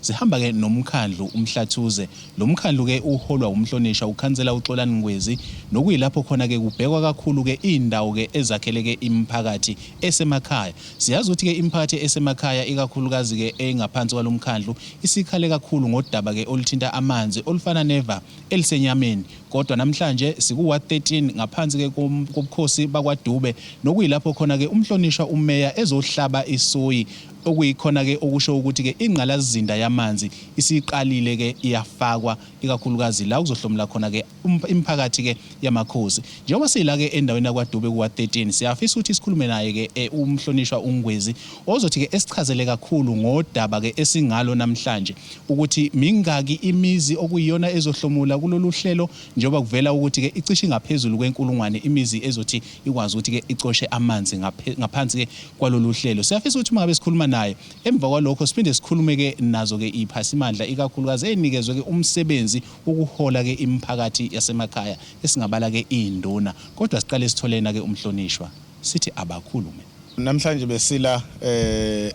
Sihamba ke nomkhandlu uMhlathuze. Lo mkhandlu ke uholwa wumhlonisha ukhansela uXolani Ngwezi nokuyilapho khona ke kubhekwa kakhulu ke iindawo ke ezakhele ke imiphakathi esemakhaya. Siyazi ukuthi ke imiphakathi esemakhaya ikakhulukazi ke engaphansi kwalo mkhandlu isikhale kakhulu ngodaba ke oluthinta amanzi olufana neva elisenyameni kodwa namhlanje sikuwa 13 ngaphansi ke kobukhosi bakwaDube nokuyilapho khona ke umhlonishwa umeya ezohlaba isoyi Okuyikhona-ke okusho ukuthi-ke ingqalazinda yamanzi isiqalile-ke iyafakwa ikakhulukazi la okuzohlomula khona-ke imiphakathi-ke yamakhosi. Njengoba sila-ke endaweni yakwaDube kuWard 13, siyafisa ukuthi sikhulume naye-ke uMhlonishwa uNgwezi ozothi-ke esichazele kakhulu ngodaba-ke esingalo namhlanje, ukuthi mingaki imizi okuyiyona ezohlomula kulolu hlelo njengoba kuvela ukuthi-ke icishe ingaphezulu kwenkulungwane imizi ezothi ikwazi ukuthi-ke icoshe amanzi ngaphansi-ke kwalolu hlelo. Siyafisa ukuthi uma ngabe sikhuluma naye, emva kwalokho siphinde sikhulume-ke nazo-ke iy'phasimandla, ikakhulukazi ey'nikezwe-ke umsebenzi wokuhola-ke imiphakathi yasemakhaya, esingabala-ke iy'nduna. Kodwa siqale sithole yena-ke uMhlonishwa, sithi abakhulume. Namhlanje besila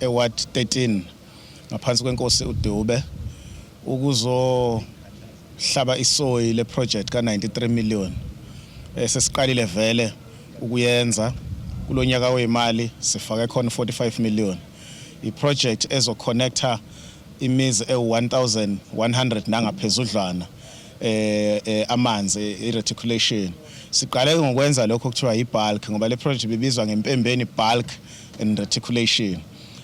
e-ward 13. ngaphansi kwenkosi uDube ukuzohlaba isoyi le project ka 93 million esesiqalile eh, vele ukuyenza kulonyaka oyimali sifake khona 45 million i project ezo connector imizi ewu-1100 nangaphezudlwana eh, eh amanzi i-reticulation siqale ngokwenza lokho kuthiwa yi-bulk ngoba le project bibizwa ngempembeni bulk and reticulation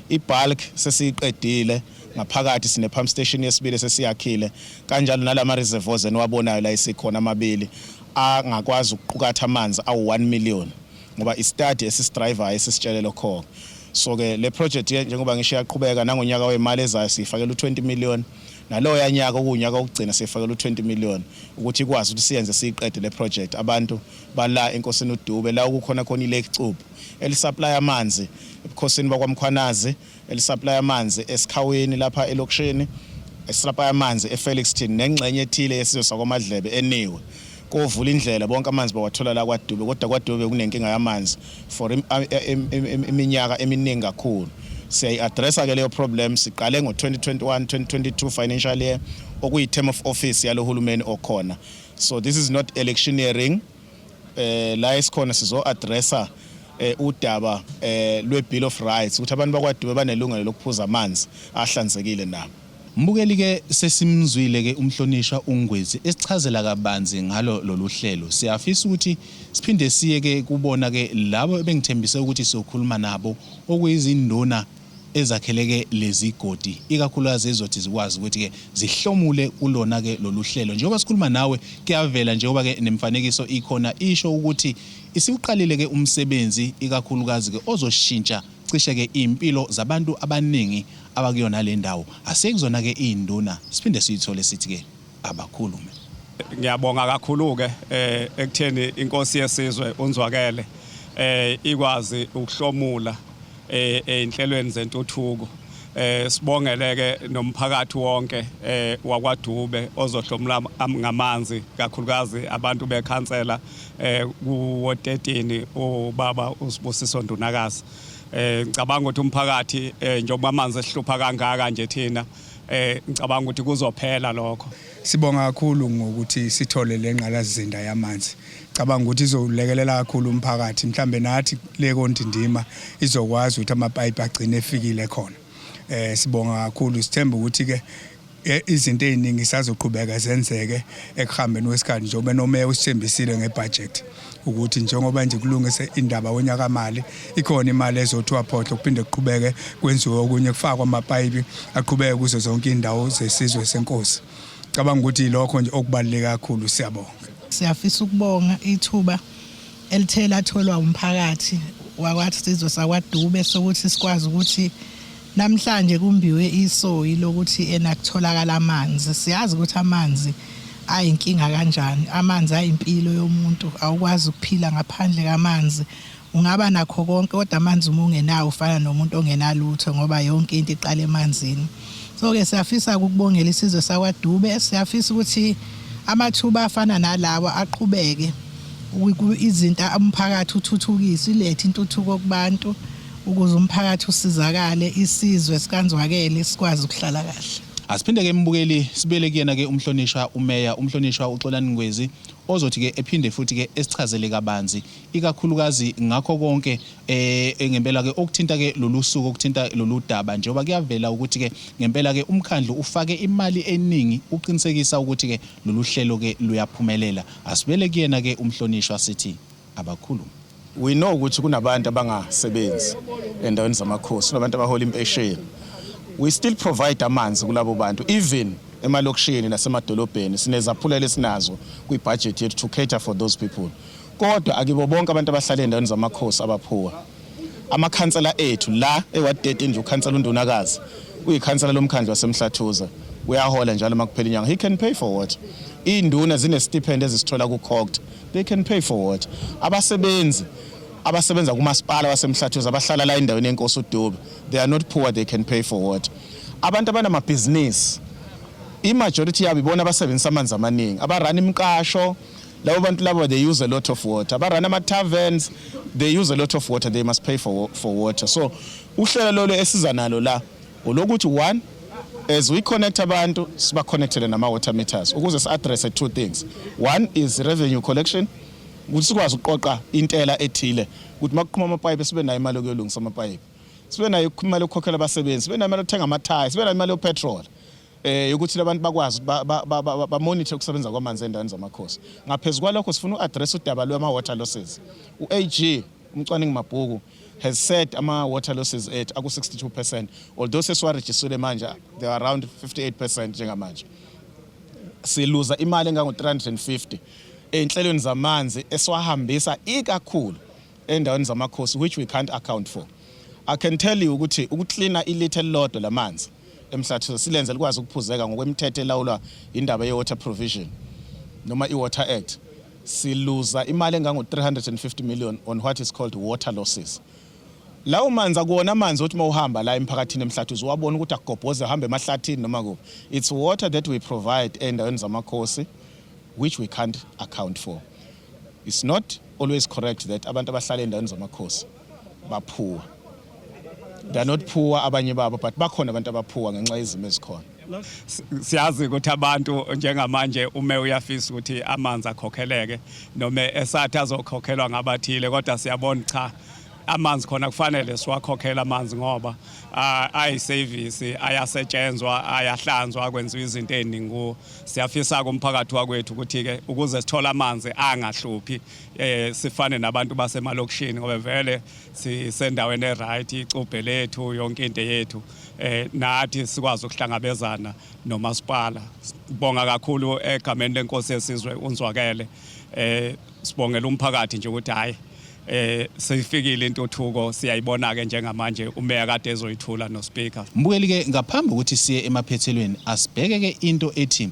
I-bulk sesiyiqedile ngaphakathi sine-pump station yesibili sesiyakhile kanjalo nalama reservoirs eniwabonayo la esikhona amabili angakwazi ukuqukatha amanzi awu-1 million ngoba i-study esisidrivayo esisitshele lokho-ke so-ke le project njengoba ngisho iyaqhubeka nangonyaka wemali ezayo siyifakela u-20 million naloya nyaka okuwunyaka wokugcina siyifakela u-20 million ukuthi ikwazi ukuthi siyenze siyiqede le project abantu bala enkosini udube la okukhona khona ilake cubu elisaplaya amanzi ebukhosini bakwaMkhwanazi, elisaplaya amanzi eSikhaweni lapha elokishini, esisaplaya amanzi eFelixton nengxenye ethile yesizwe sakwaMadlebe eniwe. Kovula indlela bonke amanzi bawathola la kwaDube kodwa kwaDube bekunenkinga yamanzi for iminyaka eminingi kakhulu. Siyayi-addressa ke leyo problem siqale ngo-2021 2022 financial year okuyi-term of office yalo hulumeni okhona. So this is not electioneering. eh la esikhona sizo addressa eh udaba eh lwe bill of rights ukuthi abantu bakwaDube banelungelo lokuphuza amanzi ahlanzekile nabo Mbukeli ke sesimzwile ke umhlonishwa uNgwezi esichazela kabanzi ngalo loluhlelo siyafisa ukuthi siphinde siye ke kubona ke labo ebengithembise ukuthi sizokhuluma nabo okuyizinduna ezakheleke lezigodi ikakhulukazi ezizothi zikwazi ukuthi ke zihlomule kulona ke loluhlelo njengoba sikhuluma nawe kuyavela njengoba ke nemfanekiso ikhona isho ukuthi isiwuqalile ke umsebenzi ikakhulukazi ke ozoshintsha cishe ke impilo zabantu abaningi abakuyona le ndawo asekuzona ke izinduna siphinde siyithole sithi ke abakhulume. Ngiyabonga kakhulu-ke eh, ekutheni inkosi yesizwe unzwakele eh, ikwazi ukuhlomula eh, ey'nhlelweni zentuthuko eh sibongeleke nomphakathi wonke eh wakwaDube ozohlomula ngamanzi kakhulukazi abantu bekhansela eh kuwo 13 ubaba usibusiso ndunakazi eh ngicabanga ukuthi umphakathi eh njengoba amanzi esihlupha kangaka nje thina eh ngicabanga ukuthi kuzophela lokho sibonga kakhulu ngokuthi sithole le ngqalazinda yamanzi cabanga ukuthi izolekelela kakhulu umphakathi mhlambe nathi le kontindima izokwazi ukuthi amapayipi agcine efikile khona eh sibonga kakhulu sithemba ukuthi ke e, izinto eziningi sazoqhubeka zenzeke ekuhambeni kwesikhathi njengoba nomeya usithembisile ngebudget ukuthi njengoba nje kulungise indaba wonyaka mali ikhona imali ezothiwa phohlo kuphinde kuqhubeke kwenziwe okunye kufakwa amapayipi aqhubeke kuzo zonke indawo zesizwe senkosi cabanga ukuthi lokho nje okubaluleke kakhulu siyabonga siyafisa ukubonga ithuba elithe latholwa umphakathi wakwathi sizwe sakwadube sokuthi sikwazi ukuthi Namhlanje kumbiwe isoyi lokuthi ena kutholakala amanzi. Siyazi ukuthi amanzi ayinkinga kanjani. Amanzi ayimpilo yomuntu. Awukwazi ukuphila ngaphandle kamanzi. Ungaba nakho konke kodwa amanzi uma ungenawo ufana nomuntu ongenalutho ngoba yonke into iqala emanzini. So ke siyafisa ukubongela isizwe sakwaDube. Siyafisa ukuthi amathuba afana nalawa aqhubeke izinto umphakathi uthuthukiswe ilethe intuthuko kubantu. ukuze umphakathi usizakale isizwe sikanzwakele sikwazi ukuhlala kahle. Asiphinde ke mbukeli sibele kuyena ke umhlonishwa umeya umhlonishwa uXolani Ngwezi ozothi ke ephinde futhi ke esichazele kabanzi ikakhulukazi ngakho konke eh ngempela ke okuthinta ke lolu suku okuthinta lolu daba njengoba kuyavela ukuthi ke ngempela ke umkhandlu ufake imali eningi uqinisekisa ukuthi ke lolu hlelo ke luyaphumelela asibele kuyena ke umhlonishwa sithi abakhulume. We know ukuthi kunabantu abangasebenzi endaweni zamakhosi, kunabantu abahola impesheni. We still provide amanzi kulabo bantu even emalokishini nasemadolobheni sinezaphulelo esinazo kwibhajethi yethu to cater for those people. Kodwa akibo bonke abantu abahlala endaweni zamakhosi abaphuwa. Amakhansela ethu la eWard 13 nje ukhansela uNdunakazi uyikhansela lomkhandlu waseMhlathuza uyahola njalo makuphela inyanga. He can pay for what? Induna zine stipend ezisithola ku-COGTA. They can pay for what? Abasebenzi abasebenza kumasipala wasemhlathuza abahlala la endaweni yenkosi uDube. They are not poor, they can pay for what? Abantu abanamabhizinisi i-majority yabo ibona abasebenzisa amanzi amaningi abarana imiqasho labo bantu labo they use a lot of water abarana ama-taverns they use a lot of water they must pay for, for water so uhlelo lolo esiza nalo la Ulokuthi one as we connect abantu siba connectele nama water meters ukuze si address two things one is revenue collection ukuthi sikwazi ukuqoqa intela ethile ukuthi makuqhuma amapayipi sibe nayo imali yokuyolungisa amapayipi sibe nayo imali yokukhokhela abasebenzi sibe nayo imali yokuthenga amathayi sibe nayo imali yopetrol eh ukuthi labantu bakwazi ba monitor ukusebenza kwamanzi endaweni zamakhosi ngaphezulu kwalokho sifuna uaddress udaba lwama water losses uAG Umcwaningi Mabhuku has said ama-water losses ethu aku-62 percent although sesiwarejistile manje they are around 58 percent njengamanje siluza imali engango-350 ey'nhlelweni zamanzi esiwahambisa ikakhulu endaweni zamakhosi which we can't account for i can tell you ukuthi ukuklina ilitha elilodwa lamanzi emhlathise silenze likwazi ukuphuzeka ngokwemithetho elawulwa indaba ye-water provision noma i-water act siluza imali engango-350 million on what is called water losses. Lawo manzi akuwona amanzi othi uma uhamba la emphakathini emhlathi uziwabona ukuthi akugobhoze ahambe emahlathini noma kuphi. It's water that we provide ey'ndaweni zamakhosi which we can't account for. It's not always correct that abantu abahlala ey'ndaweni zamakhosi baphuwa they're not poor abanye babo but bakhona abantu abaphuwa ngenxa yezimo ezikhona siyazi ukuthi abantu njengamanje ume uyafisa ukuthi amanzi akhokheleke noma esathi azokhokhelwa ngabathile kodwa siyabona cha amanzi khona kufanele siwakhokhele amanzi ngoba ayisevisi ayasetshenzwa ayahlanzwa kwenziwa izinto eziningi kuwo siyafisa-ke umphakathi wakwethu ukuthi-ke ukuze sithole amanzi angahluphi eh sifane nabantu basemalokishini ngoba vele sisendaweni eright icubhe lethu yonke into yethu eh nathi sikwazi ukuhlangabezana nomasipala sibonga kakhulu egameni lenkosi yesizwe unzwakele eh sibongela umphakathi nje ukuthi hayi eh seyifikile intuthuko siyayibona ke njengamanje umeya kade ezoyithula no speaker mbukeli ke ngaphambi ukuthi siye emaphethelweni asibheke ke into ethi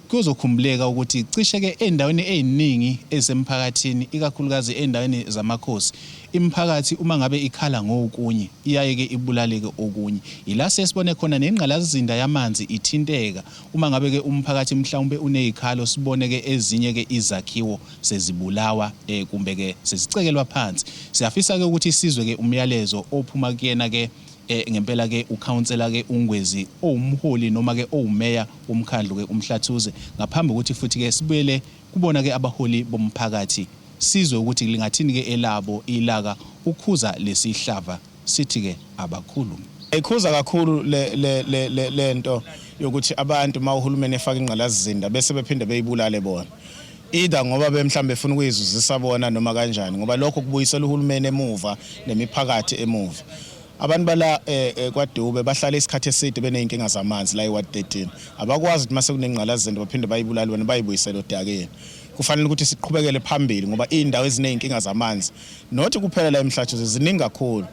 Kuyozokhumbuleka ukuthi cishe-ke ezindaweni eziningi ezisemphakathini, ikakhulukazi ezindaweni zamakhosi, imiphakathi uma ngabe ikhala ngokunye, iyaye-ke ibulaleke okunye. Yila siye sibone khona nengqalasizinda yamanzi ithinteka uma ngabe-ke umphakathi mhlawumpe unezikhalo, sibone-ke ezinye-ke izakhiwo sezibulawa kumbe-ke sezicekelwa phansi. Siyafisa-ke ukuthi sizwe-ke umyalezo ophuma kuyena-ke. Eh, ngempela ke ukhansela ke uNgwezi owumholi noma ke owumeya womkhandlu ke uMhlathuze ngaphambi ukuthi futhi ke sibuyele kubona ke abaholi bomphakathi sizwe ukuthi lingathini ke elabo ilaka ukhuza lesihlava sithi ke abakhulu Ikhuza kakhulu le le le le lento yokuthi abantu mawuhulumeni efaka ingqalazizinda bese bephinde beyibulale bona. either ngoba bemhlambe befuna ukuyizuzisa bona noma kanjani ngoba lokho kubuyisela uhulumeni emuva nemiphakathi emuva abantu bala eh, eh, kwaDube bahlala isikhathi eside beneyinkinga zamanzi la eWard 13 abakwazi ukuthi mase kunengqalazende baphinde bayibulali bona bayibuyisele odakeni kufanele ukuthi siqhubekele phambili ngoba indawo ezineyinkinga zamanzi nothi kuphela la emhlatshuze ziningi kakhulu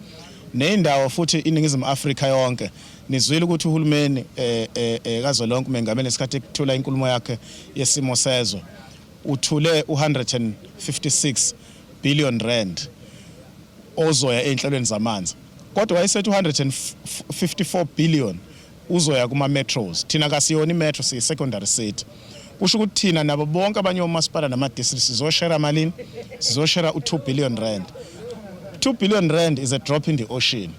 neyindawo futhi iningizimu Afrika yonke Nizwile ukuthi uhulumeni eh, eh, eh, kazwelonke umengameli ngesikhathi ekuthula inkulumo yakhe yesimo sezwe uthule u-156 billion rand ozoya ey'nhlelweni zamanzi kodwa wayesethi u-154 billion uzoya kuma-metros thina kasiyona i-metro siyi-secondary city kusho ukuthi thina nabo bonke abanye omasipala nama-district sizoshera malini sizoshera u-2 billion rand 2 billion rand is a drop in the ocean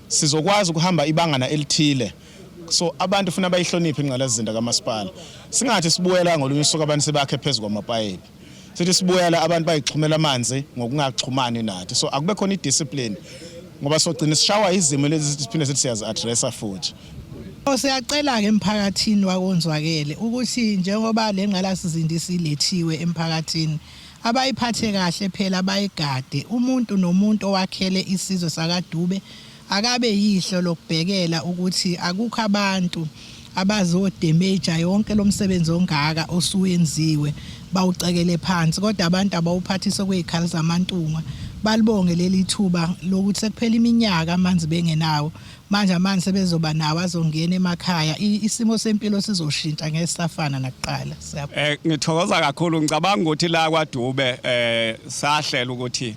sizokwazi ukuhamba ibangana elithile so abantu funa bayihloniphe ingqalasizinda kamasipala singathi sibuyela ngolunye usuku abantu sebakhe phezu kwamapayipi sithi sibuyela abantu bayixhumela amanzi ngokungaxhumani nathi so akube khona idiscipline ngoba sogcina sishawa izimo lezi siphinde sithi siyazi-addressa futhi Siyacela-ke emphakathini wakonzwakele ukuthi njengoba le ngqalasizinda isilethiwe emphakathini Abayiphathe kahle phela bayigade. Umuntu nomuntu owakhele isizwe sakaDube akabe yihlo lokubhekela ukuthi akukho abantu abazodemaja yonke lo msebenzi ongaka osuwenziwe bawucekele phansi kodwa abantu abawuphathise okwezikhali zamantunga balibonge leli thuba lokuthi sekuphela iminyaka amanzi bengenawo Manje amanzi sebezoba nawo azongena emakhaya isimo sempilo sizoshintsha ngeke safana nakuqala siyabona eh ngithokoza kakhulu ngicabanga ukuthi la kwaDube eh sahlela ukuthi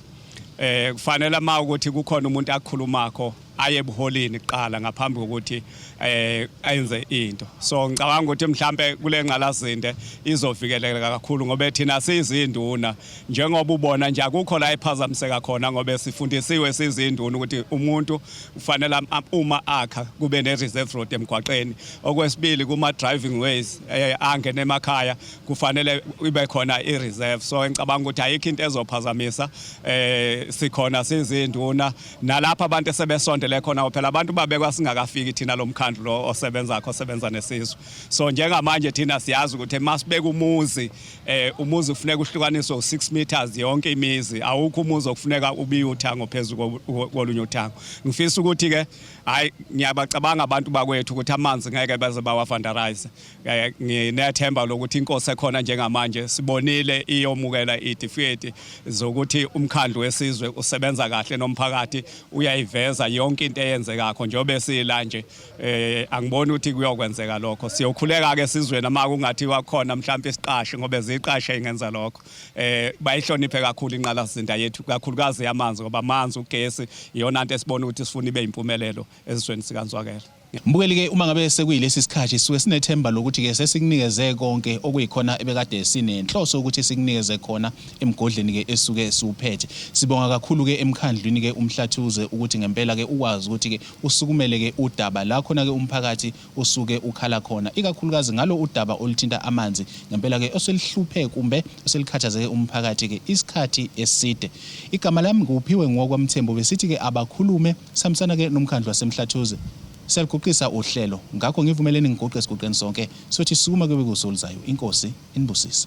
eh kufanele uma ukuthi kukhona umuntu akhulumakho aye ebuholini kuqala ngaphambi kokuthi eh enze into so ngicabanga ukuthi mhlambe kule nqalazinde izovikeleka kakhulu ngoba thina sizinduna njengoba ubona nje akukho la ephazamiseka khona ngoba sifundisiwe sizinduna ukuthi umuntu kufanele uma akha kube ne-reserve road emgwaqeni okwesibili kuma-driving ways eh, angene emakhaya kufanele ibe khona i-reserve so ngicabanga ukuthi ayikho into ezophazamisa eh sikhona sizinduna nalapha abantu esebesondele khona phela abantu babekwa singakafiki thina lo mkhandlu lo osebenzakho osebenza nesizwe so njengamanje thina siyazi ukuthi masibeka umuzi eh umuzi kufuneka uhlukaniswe u6 meters yonke imizi awukho umuzi okufuneka ubiye uthango phezulu kolunye uthango ngifisa ukuthi ke hayi ngiyabacabanga abantu bakwethu ukuthi amanzi ngeke baze bawafandarize eh, nginethemba lokuthi inkosi ekhona njengamanje sibonile iyomukela idifiketi zokuthi umkhandlu wesizwe usebenza kahle nomphakathi uyayiveza yonke into eyenzekakho njengoba sila nje eh angiboni ukuthi kuyokwenzeka lokho siyokhuleka ke sizweni uma kungathi wakhona mhlawumbe isiqashe ngoba eziqashe ingenza lokho eh bayihloniphe kakhulu inqalasizinda yethu kakhulukazi yamanzi ngoba amanzi ugesi iyona nto esibona ukuthi sifuna ibe impumelelo ezweni sikanzwakela Mbukeli ke uma ngabe sekuyilesi sikhathi suke sinethemba lokuthi ke sesikunikeze konke okuyikhona ebekade sinenhloso ukuthi sikunikeze khona emgodleni ke esuke siwuphethe. Sibonga kakhulu ke emkhandlwini ke umhlathuze ukuthi ngempela ke ukwazi ukuthi ke usukumele ke udaba la khona ke umphakathi usuke ukhala khona ikakhulukazi ngalo udaba oluthinta amanzi ngempela ke oselihluphe kumbe oselikhathazeke umphakathi ke isikhathi eside igama lami nguphiwe ngiwakwamthembu besithi ke abakhulume sihambisana ke nomkhandlu wasemhlathuze siyaluguqisa uhlelo ngakho ngivumeleni ngiguqe siguqeni sonke sothi sukuma kube kusolizayo inkosi inibusise